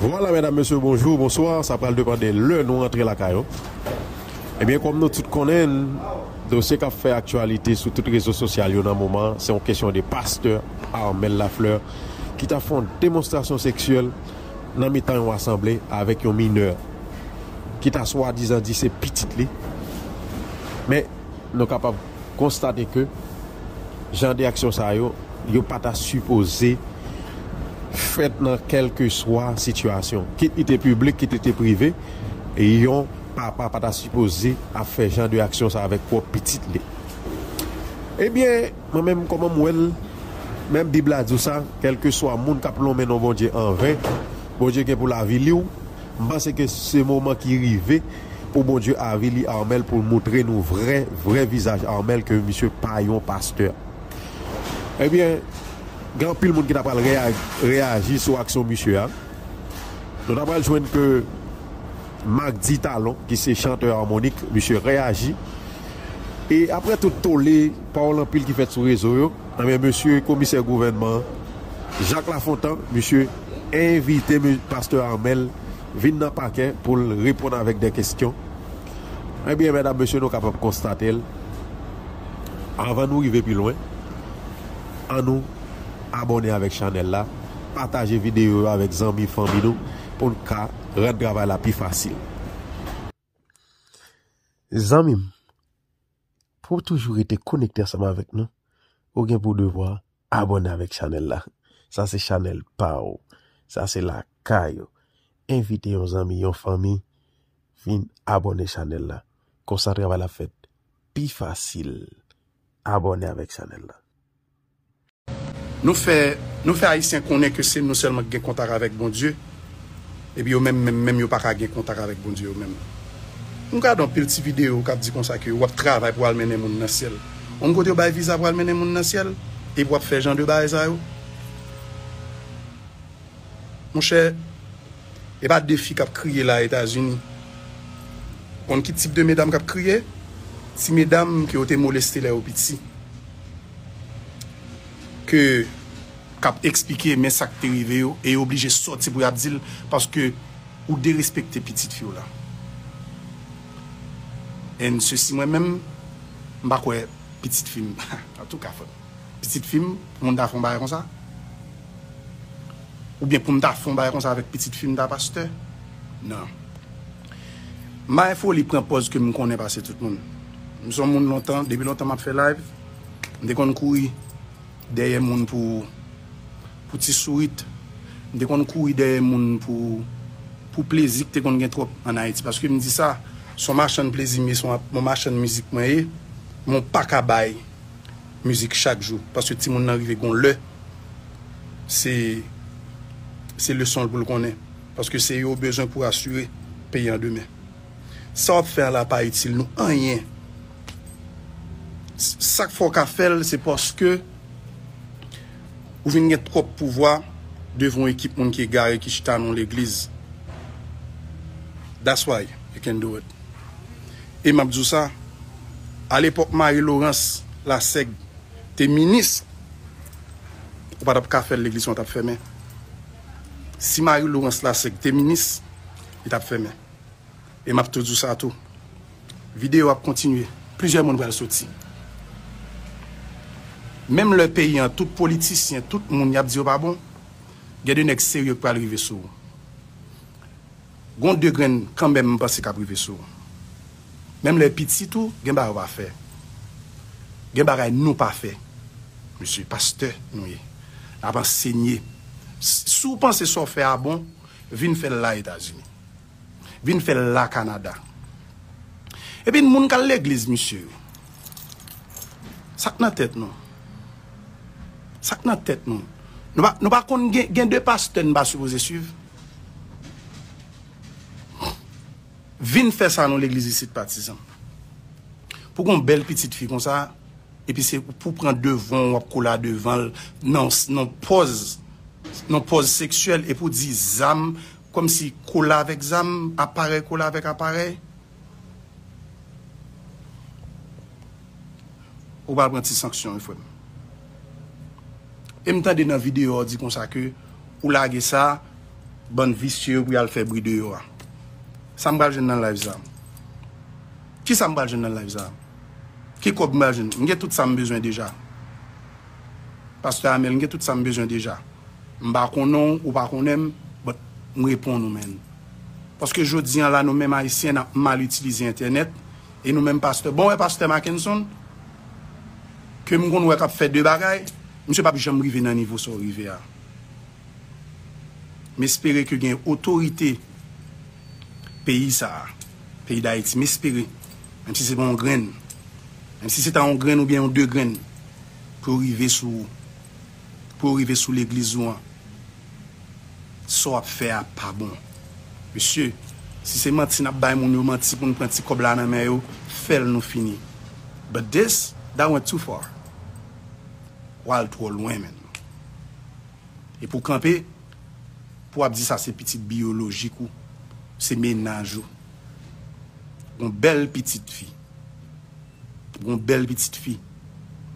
Vwala medam mesye bonjou bonswa sa pral depande lè nou rantre lakay nou ebyen kòm nou tout konnenn dosye kap fè aktyalite sou tout rezo sosyal yo nan moman se yon kesyon de pastè Armel Lafleur ki ta fon demonstrasyon seksyèl nan mitan yon asanble avèk yon minè ki ta swadizan di se pitit li men Nou kapab konstate ke jan de aksyon sa yo, yo pa ta sipoze fèt nan kèlkeswa sitiyasyon. Kit li te piblik, kit li te prive, yon papa pa ta sipoze ap fè jan de aksyon sa avèk pwòp pitit li. Ebyen, mwen menm kòman m wè l, menm Bib la di w sa, kèlkeswa moun k ap lonmen non Bondye anven, Bondye gen pou l avili w. M panse ke se moman ki rive. pou Bondye avili Armel poul moutre nou vrè vrè vizaj Armel ke misye pa yon pastè ebyen gen anpil moun ki ta pral reyaji sou aksyon misye a nou ta pral jwenn ke Macdy Talon ki se chantè Harmonik misye reyaji e aprè tout tole pawòl anpil ki fèt sou rezo yo ebyen mesye komisè gouvènman Jacques Lafontant misye envite pastè Armel. vin nan pakè pou l reponn avèk de kestyon, ebyen medam mesye nou kapab konstate l avan nou rive pi lwen an nou abòne avèk chanèl la pataje videyo yo avèk zanmi fanmi nou pou n ka rann travay la pi fasil. Zanmi m, pou w toujou rete konekte ansanm avèk nou, ou gen pou devwa abòne avèk chanèl la. Sa se chanèl pa w. Sa se lakay ou. Envite yon zanmi, yon fanmi, vin abòne chanèl la. Konsa travay la ap fèt pi fasil. Abòne avèk chanèl la. Nou fè Nou fè ayisyen konnen ke se nou sèlman ki gen kontak avèk Bondye epi yo menm menm menm yo pa ka gen kontak avèk Bondye yo menm. M gade yon pil ti videyo k ap di konsa ke w ap travay pou w al mennen moun nan syèl. On kote yo bay viza pou al mennen moun nan syèl epi w ap fè jan de bagay sa yo? Monchè! E pa de fi kap kriye la etazini. Ou konn ki tip de medam kap kriye? Ti medam ke yo te moleste lè yo piti. Ke kap eksplike men sak te rive yo e yo oblije soti pou yap dil paske ou derespekte pitit fiw la. And sesi mwen menm m pa kwè pitit fim antouka fòk pitit fim moun ta fon bagay konsa. Ou byen poum ta fon bagay konsa avek pitit fim ta pastè nan may foli pran pòz kem konnen pase tout moun m son moun lontan depi lontan map fè live m te konn kouri dèyè moun pou pou ti sourit m te konn kouri dèyè moun pou pou plezi ki te konn gen twòp an ayiti paske m di sa son machann plezi m ye son machann mizik mwen ye men w paka bay. mizik chak jou paske timoun nan rive gon lè se se leson l pou l konnen paske se yo ou bezwen pou asire peyi an demen sa wap fè an la pa itil nou anyen sak fè w ka fè l se paske ou vin gen twòp pouvwa devan yon ekip moun ki egare ki chita nan yon legliz that's why you can do it E map di w sa, a lepòk Marie Laurence Lassègue te minis, ou pa tap ka fè l legliz lan tap fèmen. Si Marie Laurence Lassègue te minis, li tap fèmen. E map tou di w sa tou, videyo ap kontinye, plizyè moun pral soti. Menm lè peyi an tout politisyen, tout moun yap di yo pa bon, gen de nèg serye ki pral rive sou ou. Gon de grenn kanmenm m panse kap rive sou ou. Menm lè pitit ou gen bagay ou pa fè. Gen bagay nou pa fè mesye pastè nou ye nap ansenye si w panse sa w fè a bon vin fè l la etazini vin fè l la kanada ebyen moun kal legliz mesye sak nan tèt nou sak nan tèt nou nou pa konn gen de pastè n pa sipoze swiv. Vin fè sa non legliz isit pa ti zanmi. Pou gon bèl pitit fi konsa epi se pou pran devan wap kola devanl nan pòz nan pòz seksyèl epi ou di zam kòmsi kola avèk zam aparèy kola avèk aparèy. Ou pral pran ti sanksyon wi frèm. Em tande nan video ou di konsa ke ou lage sa bann visye yo pou yal fè bri deyò a. Sam pral jwenn nan live sa? Kisam pral jwenn nan live sa? Ki kòb m pral jwenn? M gen tout sam bezwen deja. Pastè Amel m gen tout sam bezwen deja. M pa konnen w, ou pa konnen m, but m reponn ou menn. Paske jodi an la nou menm ayisyen nap mal itilize entènèt e nou menm pastè bon wè pastè Mackenson ke m konn wè kap fè de bagay misye pap janm rive nan nivo sa w rive a m espere ke gen otorite peyi sa peyi dayiti m espere menm si se pa yon grenn menm si se ta yon grenn oubyen yon de grenn pou yo rive sou pou yo rive sou legliz ou an sa w ap fè a pa bon mesye si se manti n ap bay moun yo manti pou nou pran ti kòb la nan men yo fè l nou fini but this that went too far w al twò lwen menn e pou w kanpe pou w ap di sa se pitit biyolojik ou se mennaj ou yon bèl pitit fi. Gon bèl pitit fi.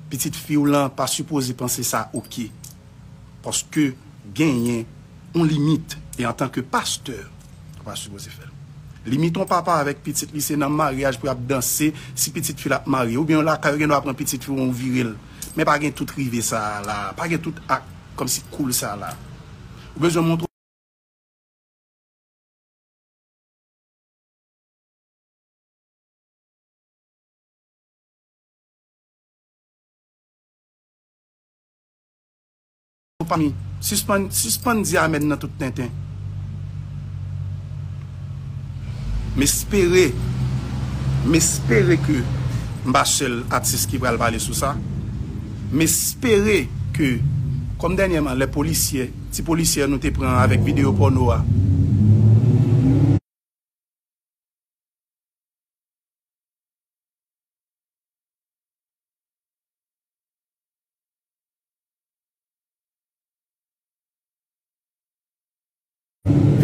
Pitit fiw lan pa sipoze panse sa ok. Paske genyen yon limit e antanke pastè ou pa sipoze fèl. Limit yon papa avèk pitit li se nan maryaj pou yap danse si pitit fi la ap marye. Oubyen yon lakay ou gendwa pran pitit fi ou ou virel. Men pa gen tout rive sa la. Pa gen tout ak kòmsi cool sa la. Ou bezwen montre. Sispann di amen nan tout tenten. M espere, m espere ke m pa sèl atis ki pral pale sou sa. M espere ke, kòm dènyèman lè polisyè, ti polisyè nou te pran avèk videyo pòno a.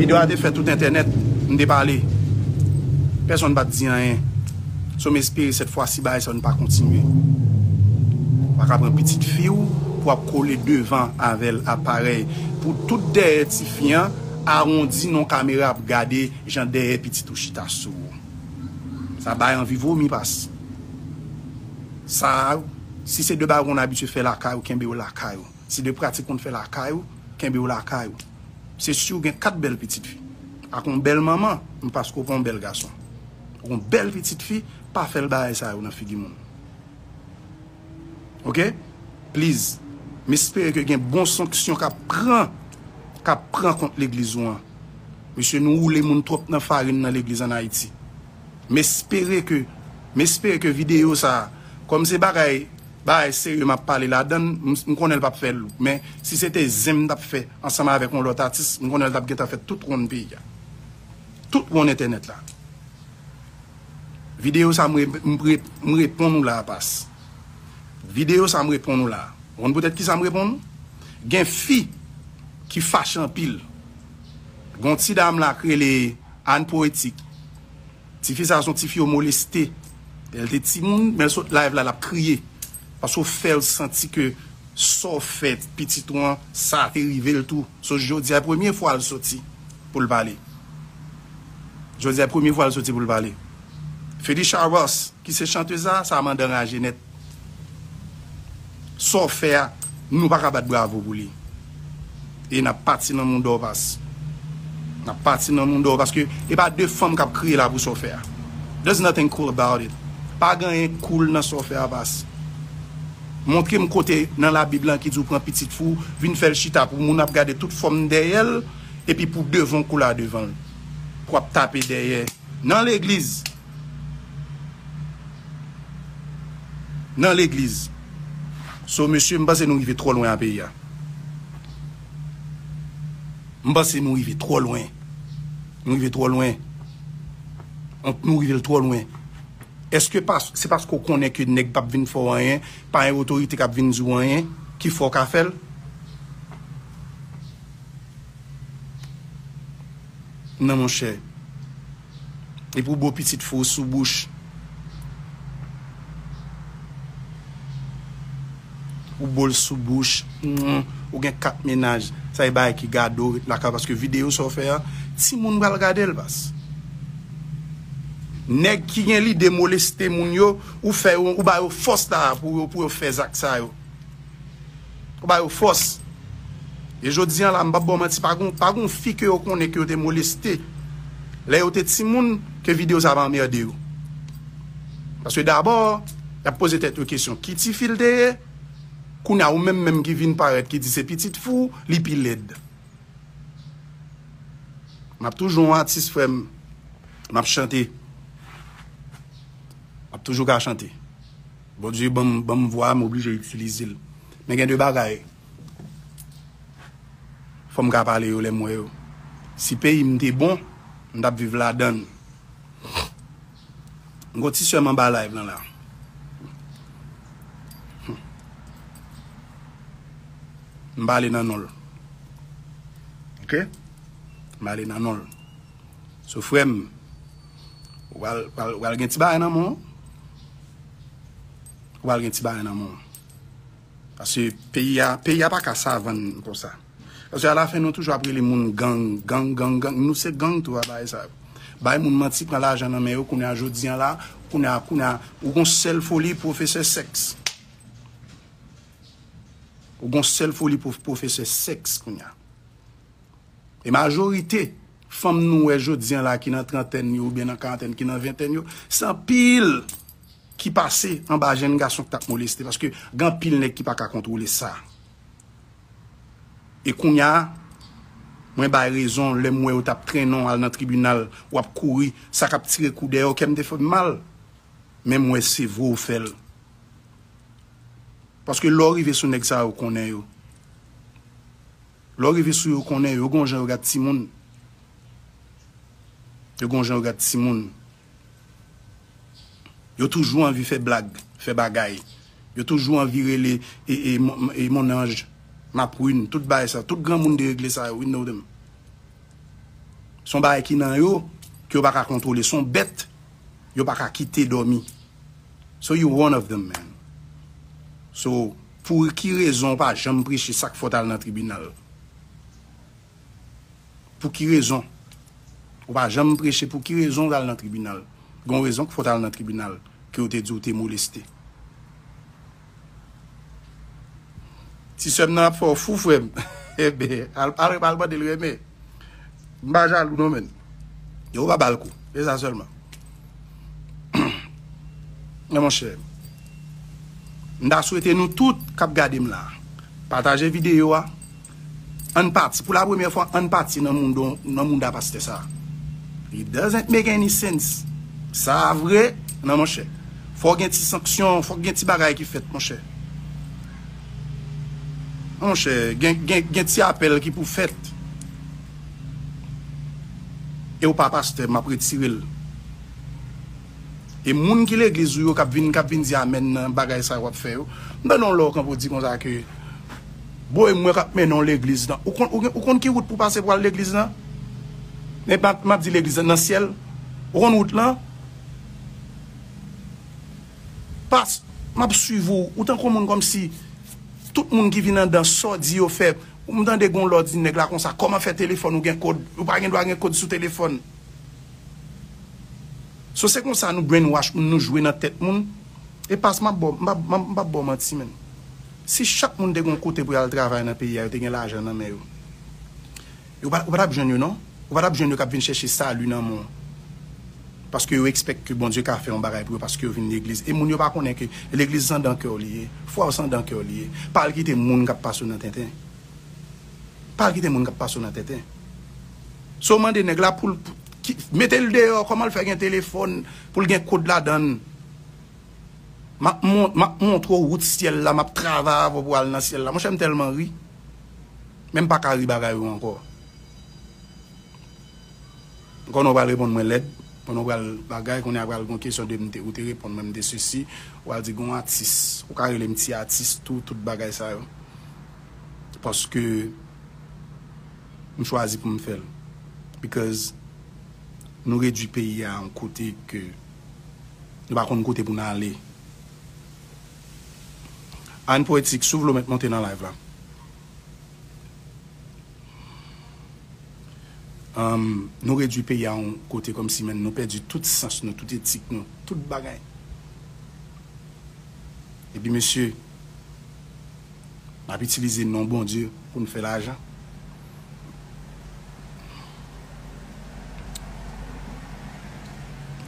Video a te fè tout entènèt, m te pale, pèsonn pa t di anyen. So m espere sèt fwa si bagay sa yo n pa kontinye. Ou pa ka pran pitit fi w pou w ap kole devan avè l aparèy pou tout dèyè tifi an awondi nan yon kamera ap gade. Jan dèyè pitit ou chita sou ou sa bay anvi vomi pas sa ou si se de bagay on abitye fè lakay ou kenbe yo lakay ou se de pratik konn fè lakay ou kenbe yo lakay ou se siw gen 4 bèl pitit fi ak on bèl manman men paske ou pa on bèl gason ou pa on bèl pitit fi pa fèl bagay sa yo nan figi moun. ok pliz m espere ke gen bon sanksyon kap pran kap pran kont legliz ou an mesye nou woule moun twòp nan farin nan legliz an ayiti m espere ke m espere ke video sa kòm se bagay bagay serye map pale ladann m konnen l pap fè l men si se te zen m tap fè ansanm avèk yon lòt atis m konnen l tap gentan fèt tout wonn peyi a tout wonn entènèt la. Video sa m reponn ou la pas. Video sa m reponn ou la. Ou konn poutèt kisa m reponn ou? Gen fi ki fache anpil. Gon ti dam la k rele Anne Poetique. Ti fi sa son ti fi yo moleste lè l te timoun men l sot live la l ap kriye paske w fè l santi ke sa w fè pitit ou an sa te rive l tou. So jodi a premye fwa l soti. poul pale. Jodi a e premye fwa l soti poul pale. Phélisha Ross ki se chanteuse la, sa mandan raje nèt. Sa w fè a, nou pa ka bat bravo pou li. E nap pati nan moun Dorvas. Nap pati nan moun Dorvas paske e pa de fanm kap kriye la pou sa w fè a. There's nothing cool about it. Pa gen anyen cool nan sa w fè a pas. Montre m kote nan labib lan ki di w pran pitit fou, vin fè l chita pou moun ap gade tout fòm dèyè l. Epi pou devan w kou la devan l pou w ap tape dèyè nan legliz nan legliz so mesye m panse nou rive twò lwen a peyi a m panse nou rive twò lwen nou rive twò lwen nou rive l twò lwen eske pas se paske ou konnen ke nèg pap vin fè w anyen pa yon otorite k ap vin di w anyen ki fè w ka fè l. nan monchè epi ou bo pitit fou sou bouch ou bol sou bouch ou gen 4 mennaj sa e bagay ki gadew ret lakay paske video sa ou fè a timoun pral gadel baz nèg ki gen lide moleste moun yo ou fè yo ou ba yo fòs la pou yo fè zak sa yo. Ou ba yo fòs. E jodi an la, m p ap ba w manti, pa gen pa gen yon fi ke yo konnen ke yo te moleste lè yo te timoun ke videyo sa pa anmède yo. Paske dabò, y ap poze tèt yo kesyon ki ti fi l te ye? Kounye a ou menm menm ki vin parèt ki di se pitit fi w, li pi lèd. M ap toujou yon atis frè m. M ap chante. M ap toujou ka chante. Bondye ban m ban m vwa a m oblije itilize l. Men gen de bagay fò m ka pale yo lè m wè yo. Si peyi m te bon, m t ap viv ladan l. M gen yon ti sè m anba live lan la. M pale nan non l. Ok? M pale nan non l. So frèm ou pral gen ti bagay nan menw ou pral gen ti bagay nan menw paske peyi a peyi a paka savann konsa paske ala fen nou toujou ap rele moun gang gang gang gang nou se gang tou a bagay sa yo bay moun manti pran lajan nan men yo kounye a jodi an la kounye a kounye a ou gon sèl foli pwofesè sèks ou gon sèl foli pwofesè sèks kounye a. E majorite fanm nou wè jodi an la ki nan trantèn yo oubyen nan karantèn, ki nan ventèn yo, se anpil ki pase anba jenn gason ki t ap moleste paske gen anpil nèg ki pa ka kontwole sa. E kounya mwen bay rezon lè m wè yo t ap trennen w al nan tribinal w ap kouri, sa k ap tire kou dèyè w, kè m te fè m mal. Men m wè se vre w fè l. Paske lè w rive sou nèg sa yo, ou konnen yo. Lè w rive sou yo konnen yo gon jan yo gad timoun yo gon jan yo gad timoun yo toujou anvi fè blag fè bagay yo toujou anvi rele e mon anj ma prune tout bagay sa tout granmoun deregle sa yo we know them se yon bagay ki nan yo ke yo pa ka kontwole se yon bèt yo pa ka kite dòmi so you one of them man so. Pou ki rezon ou pa janm preche sak fè w tal nan tribinal? Pou ki rezon ou pa janm preche pou ki rezon ou tal nan tribinal? Gon rezon k fè w tal nan tribinal ke yo te di ou te moleste. Ti sè m nan ap fè w fou frè m. Enben al mande l renmen. M pa jalou non men. Yo pa bal kou. Se sa selman. Men mon chè. M ta swete nou tout kap gade m la. Pataje video a. Ann pati. Pou la premye fwa ann pati nan moun da paste sa. It doesn't make any sense. Sa vre. Nan mon chè. Fok gen ti sanksyon. Fok gen ti bagay ki fet mon chè. Monchè, gen ti apèl ki pou fèt. E w pa pastè, m ap retire l. E moun ki legliz ou yo k ap vin k ap vin di amèn nan bagay sa yo w ap fè yo, m tande yon lè w kanpe w di konsa ke, Bro e mwen k ap mennen w legliz nan. Ou konn ki wout pou w pase pou w al legliz nan? Men m ap di legliz nan, nan syèl. Ou konn wout lan? Past map swiv ou ou tankou moun komsi tout moun ki vin andan saw di yo fè ou m tande gon lè w di nèg la konsa koman fè telefòn ou gen kod ou pa gen dwa gen kod sou telefòn so se konsa nou brain wash moun nou jwe nan tèt moun e past map baw m pap baw manti menn si chak moun te gon kote pou yal travay nan peyi a yo te gen lajan nan men yo. Ou pa ta p jwenn yo non. Ou pa ta p jwenn yo k ap vin chèche sali nan moun paske yo ekspèk ke Bondye ka fè yon bagay pou yo paske yo vin legliz. E moun yo pa konnen ke legliz se andan kè w li ye. Fwa w se andan kè w li ye. Pa al kite moun k ap pase w nan tenten. Pa al kite moun k ap pase w nan tenten. Sa w mande nèg la pou l ki mete l deyò kòman l fè gen telefòn pou l gen kòd ladan l. M ap montre w wout syèl la. M ap travay avè w pou al nan syèl la. Monchè m tèlman ri. Men m pa ka ri bagay yo ankò. M konnen ou pral reponn mwen lèd, m konnen ou pral bagay, kounye a pral gen yon kesyon de m te, ou te reponn mwen m te sesi, ou pral di gen yon atis, ou ka rele m ti atis tou, tout bagay sa yo. Paske m chwazi pou m fè l. Because nou redui peyi a yon kote ke nou pa konn kote pou n ale. Anh poetik si w vle w mèt monte nan live la Anh nou redwi peyi a yon kote kòmsi menn nou pèdi tout sans nou tout etik nou tout bagay Epi mesye nap itilize non Bondye pou n fè lajan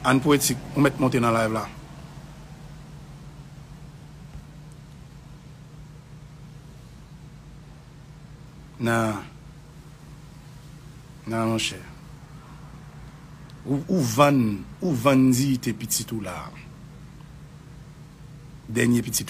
Anh poetik ou mèt monte nan live la Nan Nan monchè Ou vann Ou vann diyite pitit ou la Dènye pitit